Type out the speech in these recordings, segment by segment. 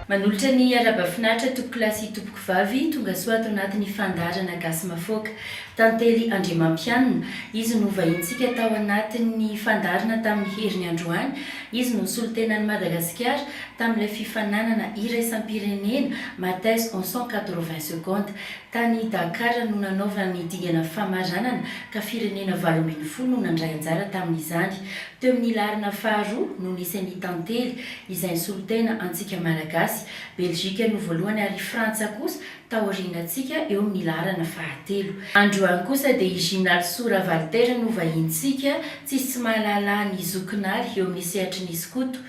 Manolotra ny haraba finaritra tompokolahy sy tompokovavy tonga soa ato anatin'ny fandaharana Gasy Mafoaka. Tantely Andriamampianina, izy no vahinintsika tao anatin'ny fandaharana tamin'ny heriny androany. Izy no solontenan'i Madagasikara tamin'ilay fifaninanana iraisam-pirenena Mathes en cent quatre-vingts secondes. Tany Dakar no nanaovana ny dingana famaranana ka firenena valo ambin'ny folo no nandray anjara tamin'izany. Teo amin'ny laharana faharoa no nisy an'i Tantely izay nisolo tena antsika Malagasy. Belgique no voalohany ary Frantsa kosa taorianantsika eo amin'ny laharana fahatelo. Androany kosa dia i Jinalsou Ravaliter no vahinintsika, tsisy tsy mahalala an'i Zokinary eo amin'ny sehatry ny skoto.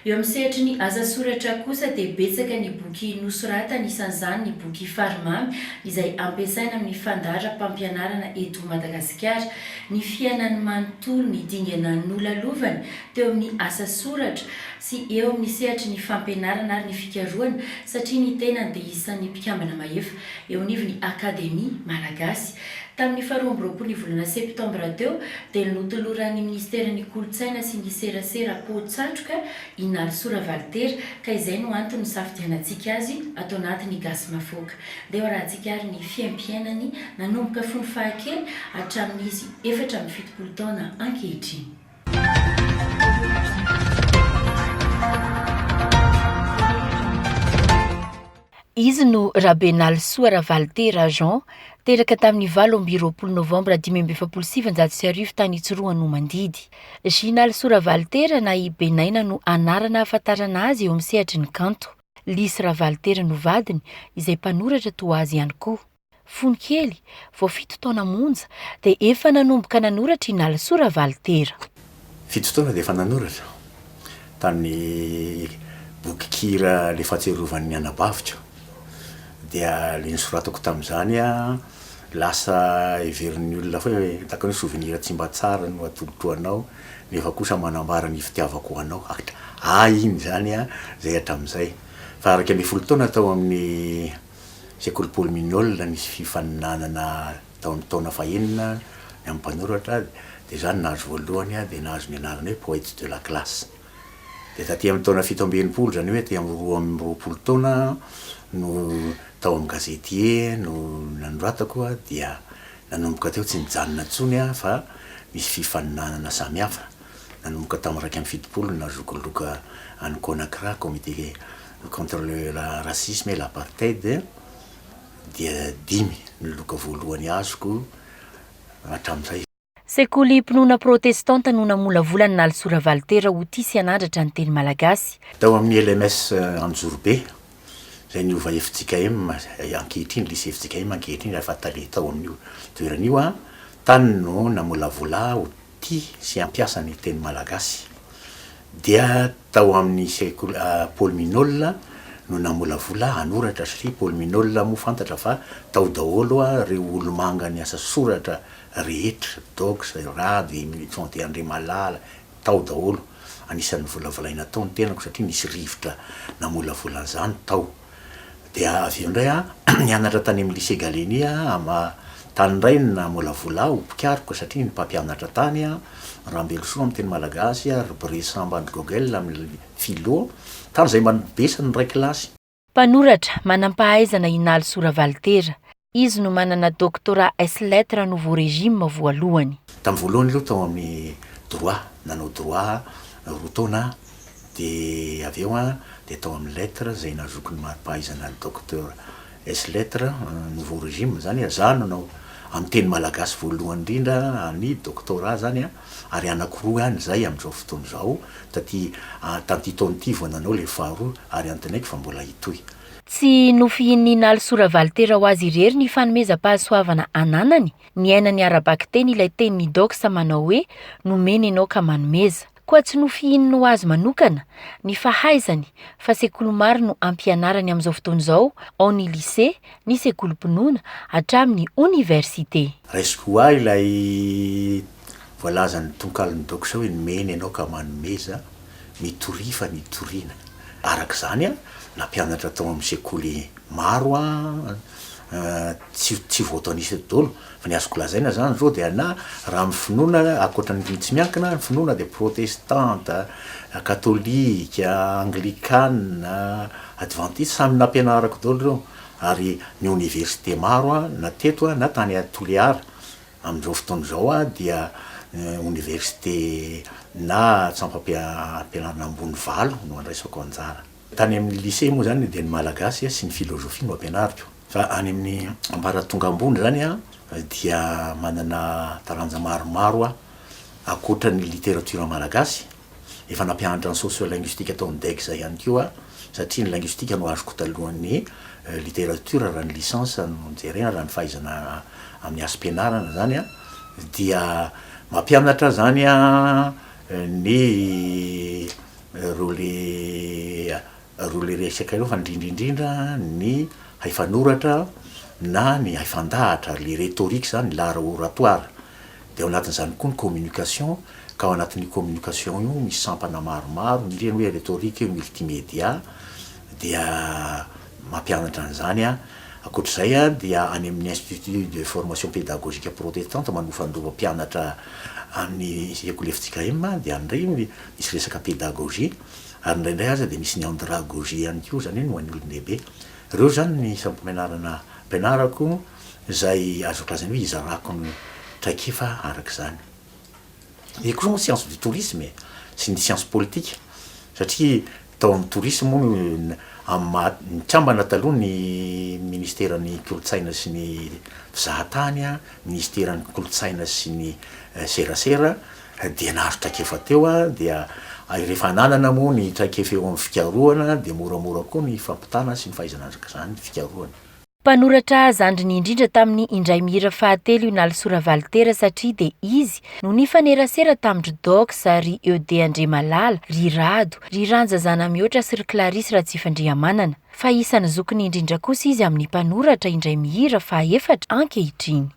Eo amin'ny sehatry ny asa soratra kosa dia betsaka ny boky nosoratany, isan'izany ny boky Farimamy izay ampiasaina amin'ny fandaharam-pampianarana eto Madagasikara. Ny fiainany manontolo, ny dingana nolalovany teo amin'ny asa soratra sy eo amin'ny sehatry ny fampianarana ary ny fikarohana satria ny tenany dia isan'ny mpikambana mahefa eo anivon'ny Akademia Malagasy. Tamin'ny faharoa amby roapolo volana septambra teo dia notoloran'ny minisiteran'ny Kolontsaina sy ny serasera poa-tsatroka i Narisoa Ravalitera ka izay no antony nisafidianantsika azy ato anatin'ny Gasy Mafoka. Ndeha hoarahantsika ary ny fiaimpiainany nanomboka fony fahakely hatramin'izy efatra amby fitopolo taona ankehitriny. Izy no Rabenalisoa Ravalitera Jean, teraka tamin'ny valo amby roapolo novambra dimy amby efapolo sy sivinjato sy arivo tany Tsiroanomandidy. Jinalisoa Ravalitera na i Benaina no anarana ahafantarana azy eo amin'ny sehatry ny kanto. Lisy Ravalitera no vadiny, izay mpanoratra toa azy ihany koa. Fony kely, vao fito taona monja, dia efa nanomboka nanoratra i Nalisoa Ravalitera. Fito taona dia efa nanoratra tamin'ny bokikira Ilay Fahatsiarovan'ny Anabaviko. Dia ilay nosoratako tamin'izany, lasa heverin'ny olona foana hoe hitako an'io souvenir tsy mba tsara no atolotro anao, nefa kosa manambara ny fitiavako anao. Ahy iny izany izay hatramin'izay. Fa araka ny folo taona tao amin'ny. Sekoly Paul Mignolle nisy fifaninanana taon'ny taona fahenina ny amin'ny mpanoratra dia izaho no nahazo voalohany dia nahazo ny anarana hoe poète de la classe. Dia taty amin'ny taona fito amby enimpolo izany hoe aty amin'ny roa amby roapolo taona no tao amin'ny gazety E no nanoratako dia nanomboka teo tsy nijanona intsony aho fa nisy fifaninanana samihafa nanomboka tamin'ny iraika amby fitopolo no nahazoako loka any Conacra, comité contre le racisme et l'apartheid dia dimy ny loka voalohany azoko hatramin'izay. Sekolim-pinoana protestanta no namolavola an'i Nalisoa Ravalitera ho tia sy hanandratra ny teny malagasy. Tao amin'ny LMS Anjorobe, izay niova fjkm ankehitriny, lycée fjkm ankehitriny, ary efa tale tao amin'io toerana io aho, tany no namolavola ahy ho tia sy hampiasa ny teny malagasy dia tao amin'ny sekoly Paul Minol no namolavola hanoratra satria Paul Minol moa fantatra fa tao daholo ireo olomanga niasa soratra rehetra Dox, Rado, Emile Tonte Andriamalala tao daholo anisan'ny volavolaina tao ny tenako satria nisy rivotra namolavola an'izany tao. Dia avy eo indray aho nianatra tany amin'ny Lycée Gallieni aho, tany indray no naha-molavola ahy ho mpikaroka satria ny mpampianatra tany, Rambelosoa amin'ny teny malagasy ary ry Bry Samba Andry Gogel amin'ny Philo, tany izay mba nibesany ny iray kilasy. Mpanoratra, manam-pahaizana i Nalisoa Ravalitera, Izy no manana doctorat ès lettres nouveau régime voalohany. Tamin'ny voalohany aloha tao amin'ny droit, nanao droit roa taona aho, dia avy eo dia tao amin'ny lettres izay nazoky ny mari-pahaizana docteur ès lettres nouveau régime, izany hoe izaho no nanao amin'ny teny malagasy voalohany indrindra ny doctorat izany ary anakiroa ihany izay amin'izao fotoana izao, taty tamin'ity taona ity vao nanao ilay faharoa ary antenaiko fa mbola hitohy. Tsy nofihin'i Nalso Ravalitera ho azy irery ny fanomezam-pahasoavana ananany niainany ara-bakiteny ilay tenin'i Dox manao hoe nomena ianao ka manomeza. Koa tsy nofihininy ho azy manokana ny fahaizany fa sekoly maro no ampianarany amin'izao fotoana izao, ao ny lise, ny sekolim-pinoana, hatramin'ny oniversite. Raisiko ho ahy ilay Voalazan'ny tonkalon'ny doxa hoe nomena ianao ka manomeza, mitoria fa nitoriana. Araka izany, nampianatra tao amin'ny sekoly maro aho, tsy voatanisa eto daholo fa ny azoko lazaina izany izao dia na raha amin'ny finoana, ankoatra ny tsy miankina, ny finoana dia protestanta, katolika, anglikana, advantista, samy nampianarako daholo ireo ary ny oniversite maro aho na teto na tany Toliara Amin'izao fotoana izao aho dia oniversite na tsampam-pianarana ambony valo no andraisako anjara. Tany amin'ny lycée moa izany dia ny Malagasy sy ny philosophie no ampianariko fa any amin'ny ambaratonga ambony izany aho dia manana taranja maromaro aho ankoatra ny literatiora malagasy Efa nampianatra ny sociolinguistique tao amin'ny Dec zay ihany koa aho satria ny linguistique no azoko talohan'ny littérature raha ny licence no jerena raha ny fahaizana amin'ny asm-pianarana zany an, dia mampianatra zany an ny ireo le resaka ireo fa indrindra indrindra ny haifanoratra na ny haifandahatra, le rhétorique zany, l'art oratoire. Dia ao anatin'izany koa ny communication, ka ao anatin'io communication io misy sampana maromaro, ny ireny hoe rhétorique et multimédia dia mampianatra an'izany an. Ankoatra izay an, dia any amin'ny Institut de formation pédagogique protestante manofandova mpianatra amin'ny sekoly fjkm an, dia any indray misy resaka pédagogie, ary indraindray aza dia misy ny andragogie ihany koa, izany hoe ny ho an'ny olon-dehibe. Ireo izany ny isan'ny mpampianarana ampianarako. izay azo lazaina hoe izarako ny traikefa araka izany. Io koa izao ny science du tourisme e, sy ny science politique satria tao amin'ny tourisme moa no amin'ny maha nikambana taloha ny ministeran'ny kolontsaina sy ny fizahatany, ministeran'ny kolontsaina sy ny serasera dia nahazo traikefa teo dia rehefa ananana moa ny traikefa eo amin'ny fikarohana dia moramora koa ny fampitana sy ny fahaizana araka izany ny fikarohana. Mpanoratra zandriny indrindra tamin'ny indray mihira fahatelo io Naly Soravalli Tera satria dia izy no nifanerasera tamin-dry Dox, ry Eude Andriamalala, ry Rado, ry Ranja Zanamihoatra sy ry Clarisse Ratsifandrihamanana. Fa isan'ny zokiny indrindra kosa izy amin'ny mpanoratra indray mihira fahaefatra ankehitriny.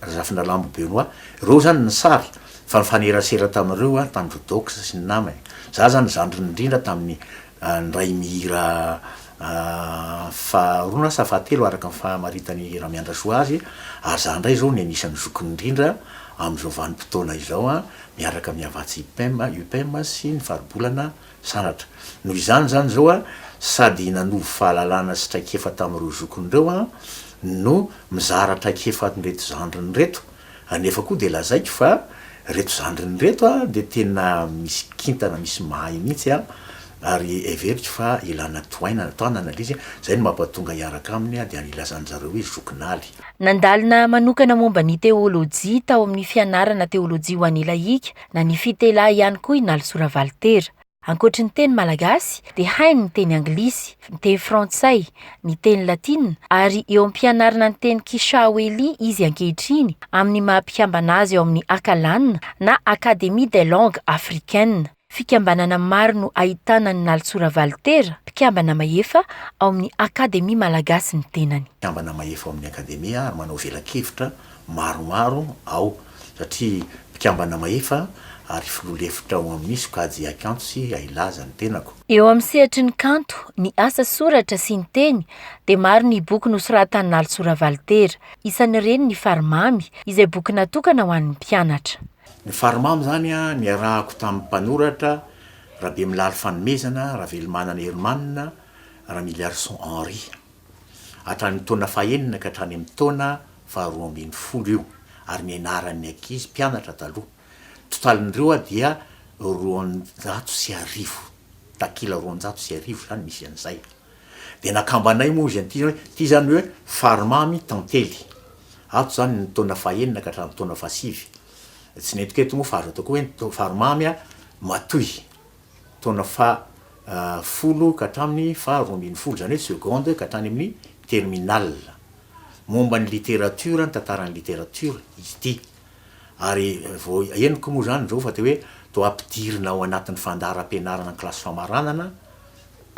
Razafindralambo Benoit, ireo zany ny sary fa nifanerasera tamin'ireo aho tamin'i Rodox sy ny namany. Za zany zandriny indrindra tamin'ny niray mihira faharoa na sa fahatelo araka ny famaritan'i Ramiandrasoa azy ary za indray izao ny anisan'ny zokiny indrindra amin'izao vanim-potoana izao miaraka amin'ny Havatsi Upem sy ny Faribolana Sanatria. Noho izany izany izao an, sady nanovo fahalalana sy traikefa tamin'ireo zokiny ireo an, no mizara traikefa an'ireto zandriny ireto. Anefa koa dia lazaiko fa ireto zandriny ireto an, dia tena misy kintana, misy mahay mihitsy an, ary heveriko fa ilana tohainana, tanana ilay izy, izay no mampatonga hiaraka aminy dia ilazan-dry zareo hoe zokin'Aly. Nandalina manokana momba ny teolojia tao amin'ny fianarana teolojia ho an'Ilahika Na ny fitelahy ihany koa i Nalisoa Ravalitera. Ankoatry ny teny malagasy dia hainy ny teny anglisy, ny teny frantsay, ny teny latina ary eo am-pianarana ny teny Kishahoeli izy ankehitriny amin'ny maha mpikambana azy ao amin'ny Akalan na Académie des langues africaines. Fikambanana maro no ahitana an'i Nalisoa Ravalitera mpikambana mahefa ao amin'ny Akademia Malagasy ny tenany. Mpikambana mahefa ao amin'ny Akademia ary manao velakevitra maromaro ao satria mpikambana mahefa ary filoha lefitra ao amin'ny sokajy haikanto sy hailaza ny tenako. Eo amin'ny sehatry ny kanto, ny asa soratra sy ny teny dia maro ny boky nosoratan'i Nalisoa Ravalitera. Isan'ireny ny Farimamy, izay boky natokana ho an'ny mpianatra. Ny Farimamy izany niarahako tamin'ny mpanoratra Rabemilaly Fanomezana, Ravelomanana Hermanina, Ramiliarison Henri. hatramin'ny taona fahenina ka hatrany amin'ny taona faharoa ambin'ny folo io ary nianaran'ny ankizy mpianatra taloha. Ny totalin'ireo dia roanjato sy arivo, takila roanjato sy arivo izany misy an'izay. Dia nakambanay moa izy an'ity hoe ity izany hoe Farimamy Tantely. Ato izany ny taona fahenina ka hatramin'ny taona fahasivy. Tsy nentiko eto moa fa azo atao koa hoe ny Farimamy Matoy. taona faha folo ka hatramin'ny faha roa ambin'ny folo, izany hoe seconde ka hatrany amin'ny terminale. Momba ny literatiora, ny tantaran'ny literatiora izy ity. Ary vao henoko moa izany izao fa teo hoe toa ampidirina ao anatin'ny fandaharam-pianarana an-kilasy famaranana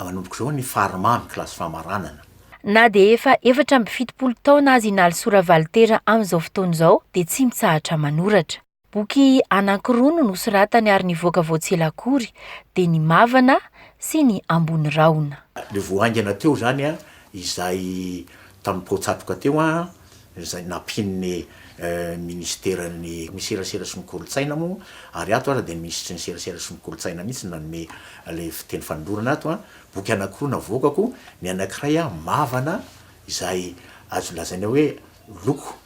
manomboka izao ny farimamy kilasy famaranana. Na dia efa efatra amby fitopolo taona aza i Nalisoa Ravalitera amin'izao fotoana izao dia tsy mitsahatra manoratra. Boky anankiroa no nosoratany ary nivoaka vao tsy ela akory, dia ny Mavana sy ny Ambony rahona. Ilay vao haingana teo izany, izay tamin'ny poa-tsatroka teo, izay nampian'ny minisiteran'ny serasera sy ny kolontsaina moa, ary ato aza dia ny minisitry ny serasera sy ny kolontsaina mihitsy no nanome ilay fiteny fanolorana ato. Boky anankiroa navoakako, ny anankiray Mavana izay azo lazaina hoe loko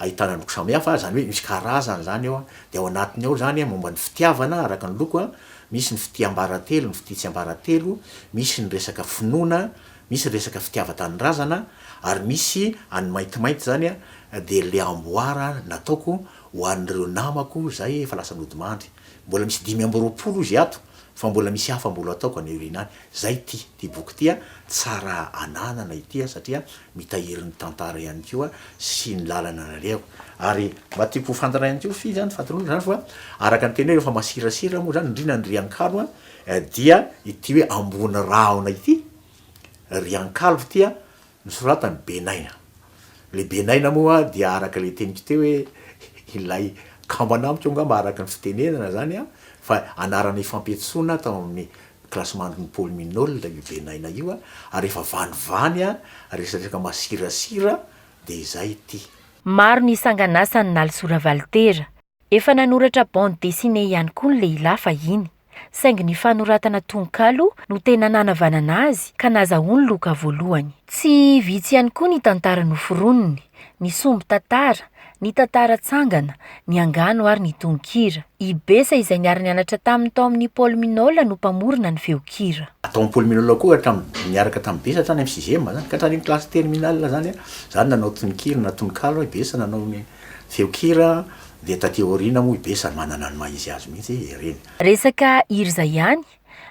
ahitana loko samihafa, izany hoe misy karazany izany ao, dia ao anatiny ao izany momba ny fitiavana araka ny loko, misy ny fitia ambaratelo, ny fitia tsy ambaratelo, misy ny resaka finoana, misy resaka fitiavan-tanindrazana, ary misy an'ny maintimainty izany dia ilay amboara nataoko ho an'ireo namako izay efa lasa nodimandry. Mbola misy dimy amby roapolo izy ato Fa mbola misy hafa mbola ataoko any aoriana any. Zay ity, ity boky ity a, tsara ananana ity a, satria mitahiry ny tantara ihany koa sy ny lalana nalehako. Ary mba tiako ho fantatra ihany koa fy zany fahatoroana zany fa araka ny teny hoe rehefa masirasira moa zany indrindra ny riankalo a dia ity hoe ambony rahona ity, riankalo ity a, Nosoratan'i Benaina. Ilay Benaina moa dia araka ilay teniko teo hoe ilay kambana amiko angamba araka ny fitenenana izany an, fa anarana ifampiantsoana tao amin'ny kilasimandrin'i Paoly Minolta io Benaina io ary rehefa vanivany resadresaka masirasira dia izay ity. Maro ny sangan'asany nalisoa Ravalitera, Efa nanoratra bande dessinée ihany koa ny lehilahy fahiny, saingy ny fanoratana tononkalo no tena nanavanana azy ka nazahoany loka voalohany. Tsy vitsy ihany koa ny tantara noforoniny, ny sombin-tantara, ny tantara tsangana, ny angano ary ny tononkira. I Bessa izay niara-nianatra taminy tao amin'ny Paul Minol no mpamorona ny feon-kira. Tao amin'ny Paul Minol koa hatramin'ny niaraka tamin'i Bessa hatrany amin'ny sixième zany ka hatranin'ny classe terminale zany, zany nanao tononkira na tononkalo i Bessa nanao ny. Feon-kira dia taty aoriana moa i Be sady manana ny maha izy azy mihitsy ireny. Resaka hira izay ihany,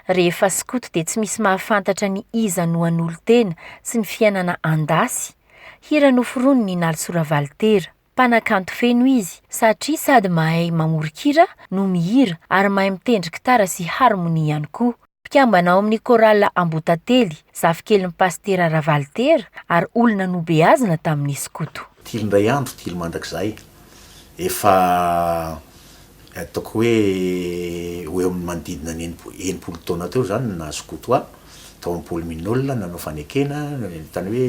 rehefa skoto dia tsy misy mahafantatra ny iza no hanolo-tena sy ny fiainana andasy, hira noforoniny i Nalisoa Ravalitera, mpanakanto feno izy satria sady mahay mamoron-kira no mihira ary mahay mitendry gitara sy harmonie ihany koa. mpikambana ao amin'ny Chorale Ambohitately, zafikelin'i Pasitera Ravalitera ary olona nobeazina tamin'ny skoto. Tily indray andro, tily mandrakizay. Efa ataoko hoe ho eo amin'ny manodidina ny enimpolo taona teo izany no naha-skoto ahy, tao amin'ny pôly Minol, nanao fanekena, tany hoe,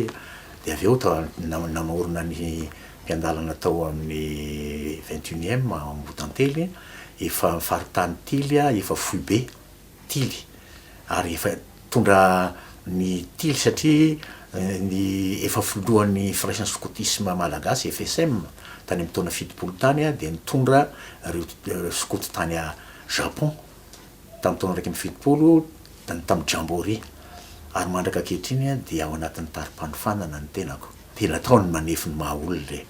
dia avy eo namorona ny mpiandalana tao amin'ny vingt et unième Ambohitantely, efa faritany tily aho, efa foibe. tily ary efa nitondra ny tily satria ny efa filohan'ny Firaisan'ny Skotisma Malagasy, FSM, tany amin'ny taona fitopolo tany dia nitondra ireo skoto tany Japon tamin'ny taona iraika amby fitopolo tamin'ny Jamboree ary mandraka ankehitriny dia ao anatin'ny tari-panofanana ny tenako. Tena atao ny manefy ny maha olona e!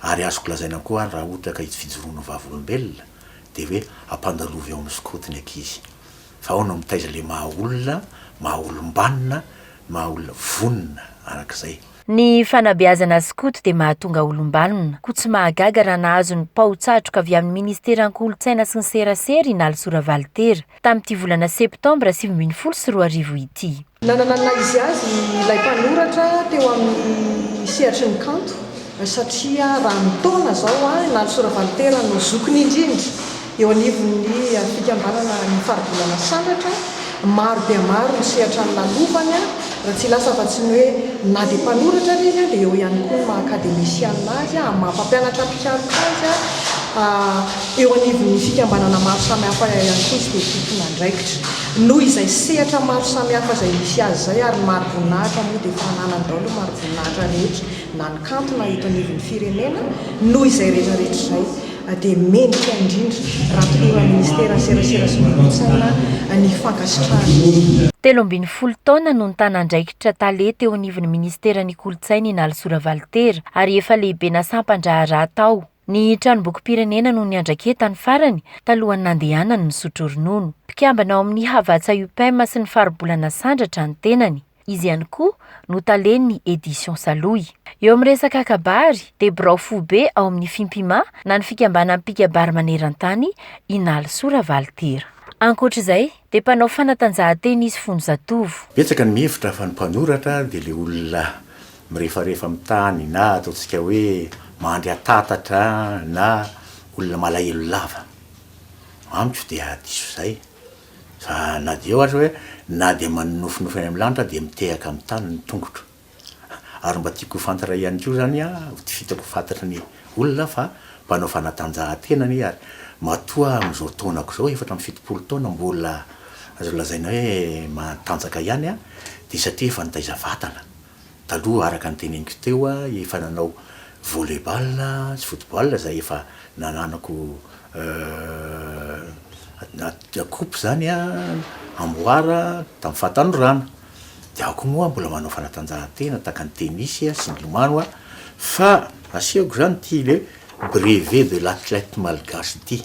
Ary azoko lazaina koa ary raha ohatra ka itsy fijoroan'ny vavolombelona dia hoe ampandalovy ao amin'ny skoto ny ankizy. Fa ahoana mitaiza ilay maha olona, maha olom-banona, maha olona vonona arak'izay. Ny fanabeazana skoto dia mahatonga olom-banona, koa tsy mahagaga raha nahazo ny pao-tsatroka avy amin'ny ministeran-kolontsaina sy ny serasera i Nalisoa Ravalitera, tamin'ity volana septambra sivy ambin'ny folo sy roa arivo ity. Nanana ny naha-izy-azy ilay mpanoratra teo amin'ny sehatry ny kanto, satria raha ny taona izao, i Nalisoa Ravalitera no zokiny indrindra eo anivon'ny fikambanana Ny Faribolana Sandratra. Maro dia maro ny sehatra nolalovany. Raha tsy lasa afa-tsy ny hoe na dia mpanoratra ary izy dia eo ihany koa ny maha akademisianina azy amin'ny maha mpampianatra mpikaroka azy. Eo anivon'ny fikambanana maro samihafa ihany koa izy dia tompon'andraikitra. Noho izay sehatra maro samihafa izay misy azy izay ary ny mari-boninahitra moa dia efa ananany daholo ny mari-boninahitra rehetra na ny kanto na eto anivon'ny firenena noho izay rehetra rehetra izay. a dia mendrika indrindra raha tokony ho Minisiteran'ny Serasera sy ny Kolontsaina ny fankasitrahana. Telo ambin'ny folo taona no nitana andraikitra tale teo anivon'ny Minisiteran'ny Kolontsaina i Nalisoa Ravalitera ary efa lehibena sampan-draharaha tao. Ny Tranombokim-pirenena no niandraketany farany talohan'ny nandehanany nisotro ronono. Mpikambana ao amin'ny Havatsa Upem sy ny Faribolana Sandratra ny tenany. Izy ihany koa no talen'ny Editions Saloy. Eo amin'ny resaka kabary dia birao foibe ao amin'ny Fimpima na ny fikambanan'ny mpikabary maneran-tany i Nalisoa Ravalitera. Ankoatra izay dia mpanao fanatanjahantena izy fony zatovo. Betsaka ny mihevitra fa ny mpanoratra dia ilay olona mirefarefa amin'ny tany na ataontsika hoe mandry antatatra na olona malahelo lava. Amiko dia diso izay. Fa na dia eo aza hoe na dia manonofinofy any amin'ny lanitra dia mitehaka amin'ny tany ny tongotro. Ary mba tiako ho fantatra ihany koa izany an, ho tifitako ho fantatry ny olona fa mpanao fanatanjahantena anie ary matoa amin'izao taonako izao, efatra amby fitopolo taona, mbola azo lazaina hoe matanjaka ihany an, dia satria efa nitaiza vatana. Taloha araka ny teneniko teo aho efa nanao volley ball sy football izay efa nananako coupe izany amboara tamin'ny fahatanorana. Dia aho koa moa mbola manao fanatanjahantena tahaka ny tennis sy ny lomano aho fa asehoko izany ity le brevet de l'athlète malgache ity.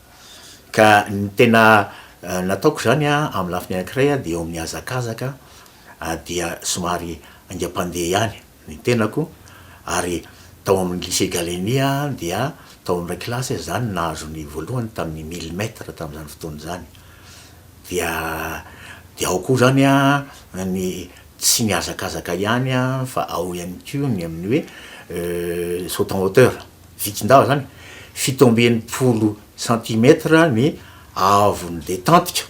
Ka ny tena nataoko izany amin'ny lafiny anankiray dia eo amin'ny hazakazaka dia somary haingam-pandeha ihany ny tenako ary tao amin'ny Lycée Gallieni dia tao amin'ny iray kilasy aho izany no nahazo ny voalohany tamin'ny mille mètres tamin'izany fotoana izany. Dia dia ao koa izany ny tsy ny hazakazaka ihany fa ao ihany koa ny amin'ny hoe saut en hauteur. Vitsin-dava izany, fito amby enimpolo centimètres ny haavon'ny letantika.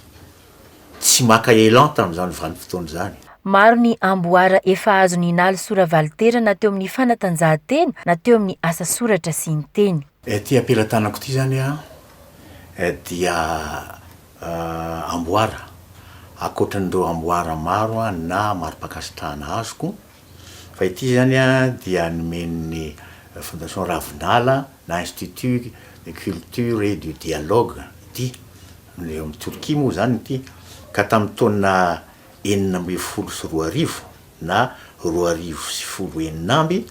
Tsy maka élan tamin'izany vanim-potoana izany. Maro ny amboara efa azon'i Ingaly sora-valintera na teo amin'ny fanatanjahantena na teo amin'ny asa soratra sy ny teny. Ity ampelatanako ity izany dia amboara ankoatran'ireo amboara maro na mari-pankasitrahana azoko. Fa ity izany dia nomen'ny Fondation Ravinala na Institut de Culture et du Dialogue ity. Eo amin'i Torkia moa izany ity ka tamin'ny taona enina ambin'ny folo sy roa arivo na roa arivo sy folo enina amby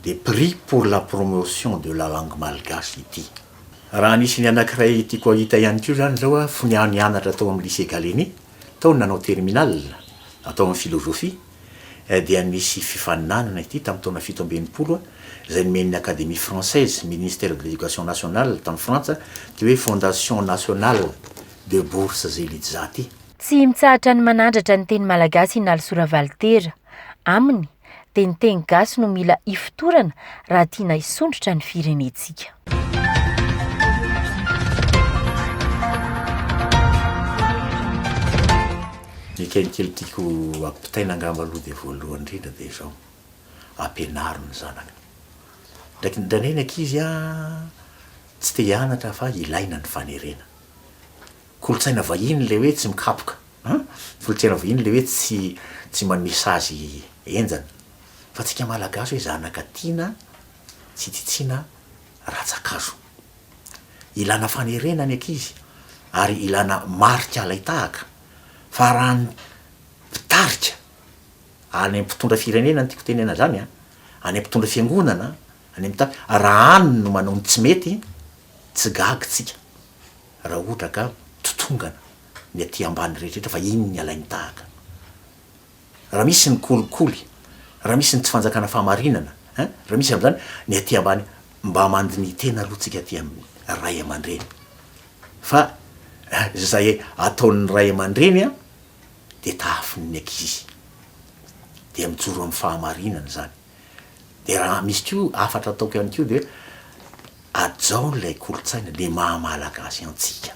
dia Prix pour la promotion de la langue malgache ity. Raha anisan'ny anankiray tiako hahita ihany koa izany izao aho fony aho nianatra tao amin'ny Lycée Gallieni, tao ny nanao terminale, tao amin'ny philosophie. eh dia misy fifaninanana ity tamin'ny taona fito amby enimpolo izay nomen'ny Académie Française, Ministère de l'Education Nationale tany Frantsa ity hoe Fondation Nationale de Bourses et Lidzah ity. Tsy mitsahatra ny manandratra ny teny malagasy i Nalisoa Ravalitera. Aminy dia ny teny gasy no mila hifotorana raha tiana hisondrotra ny firenentsika. Ny kelikely tiako ampitaina angamba aloha dia voalohany indrindra dia izao, ampianaro ny zanaka. Indraindray ny ankizy tsy te hianatra fa ilaina ny fanerena. Kolontsaina vahiny ilay hoe tsy mikapoka an, kolontsaina vahiny ilay hoe tsy tsy manome sazy henjana. Fa antsika malagasy hoe zanaka tiana tsy titsiana rantsa-kazo. Ilana fanerena ny ankizy ary ilana marika alain-tahaka fa raha ny mpitarika, any amin'ny mpitondra firenena no tiako tenena izany an, any amin'ny mpitondra fiangonana, any amin'ny tany, raha any no manao ny tsy mety, tsy gaga isika raha ohatra ka totongana ny aty ambany rehetra rehetra fa iny ny alain-tahaka. Raha misy ny kolikoly, raha misy ny tsy fanjakana fahamarinana eh, raha misy amin'izany ny aty ambany, mba mandinihy tena aloha tsika aty amin'ny ray aman-dreny fa izay ataon'ny ray aman-dreny an dia tahafin'ny ankizy dia mijoro amin'ny fahamarinana izany dia raha misy koa hafatra ataoko ihany koa dia hajao ilay kolontsaina ilay maha malagasy antsika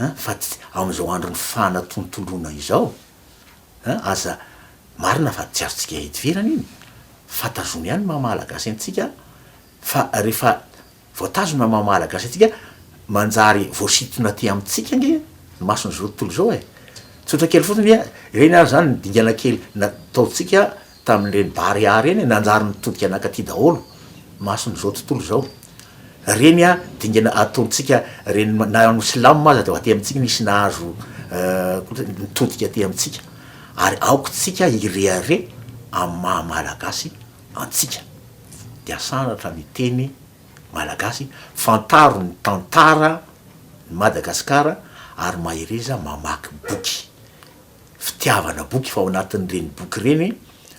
eh, fa tsy amin'izao andron'ny fanatontoloana izao. Aza marina fa tsy azontsika idivirana iny fa tazomy ihany ny maha Malagasy antsika fa rehefa voatazona ny maha Malagasy antsika manjary voasintona aty amintsika ange ny mason'izao tontolo izao e! Tsotra kely fotsiny ireny ary izany ny dingana kely nataontsika tamin'ireny Barea ireny e, nanjary nitodika nankaty daholo, mason'izao tontolo izao. Ireny dingana ataontsika ireny, na ho silamo aza dia aty amintsika nisy nahazo kolontsaina, nitodika aty amintsika. Ary aoka isika hirehareha amin'ny maha Malagasy antsika. Dia sandratra ny teny malagasy, fantaro ny tantaran'i Madagasikara ary mahereza mamaky boky. fitiavana boky fa ao anatin'ireny boky ireny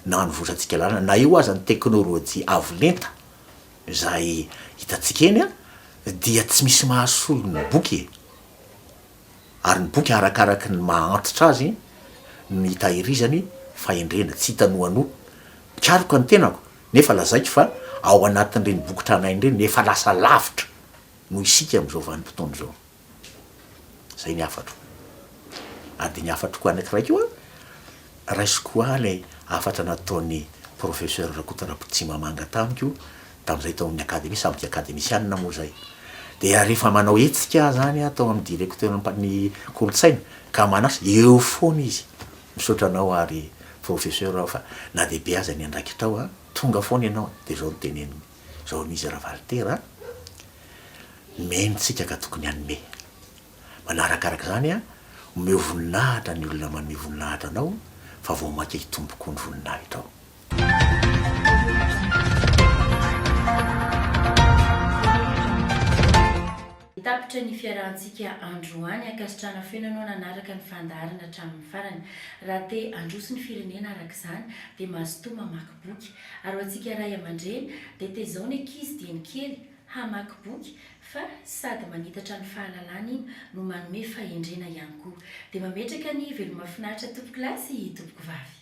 no anovotrantsika lalana na eo aza ny teknolojia avo lenta izay hitantsika eny dia tsy misy mahasolo ny boky e! ary ny boky arakaraky ny maha antitra azy no hitahirizany fahendrena, tsy hita noanoa, mpikaroka ny tenako nefa lazaiko fa ao anatin'ireny boky tranainy ireny efa lasa lavitra noho isika amin'izao vanim-potoana izao. Zay ny hafatro. Ary dia ny hafatroko anankiray koa, raisiko ho ahy ilay hafatra nataon'i Professeur Rakoto Rapotimamanga tamiko, tamin'izay tao amin'ny Akademia, sambok'i Akademisianina moa izay. Dia rehefa manao hetsika aho izany aho tao amin'ny Directeur ny Kolontsaina, ka manasa, eo foana izy, misaotra anao ary Professeur aho fa na dia be aza ny andraikitrao an, tonga foana ianao an, dia izao no teneniny. Zao am izy Ravalitera a. Nomeny ny tsika ka tokony hanome. Manarakarak zany a, omeo voninahitra ny olona maneho voninahitra anao fa vao maika hitombo koa ny voninahitrao. Tapitra ny fiarahantsika androany. Ankasitrahana feno ianao nanaraka ny fandaharana hatramin'ny farany. Raha te handroso ny firenena araka izany dia mazotoa mamaky. boky ary ho antsika ray aman-dreny dia tezao ny ankizy dieny kely hamaky boky fa sady manitatra ny fahalalana iny no manome fahendrena ihany koa. Dia mametraka ny veloma finaritra tompokolahy sy tompokovavy.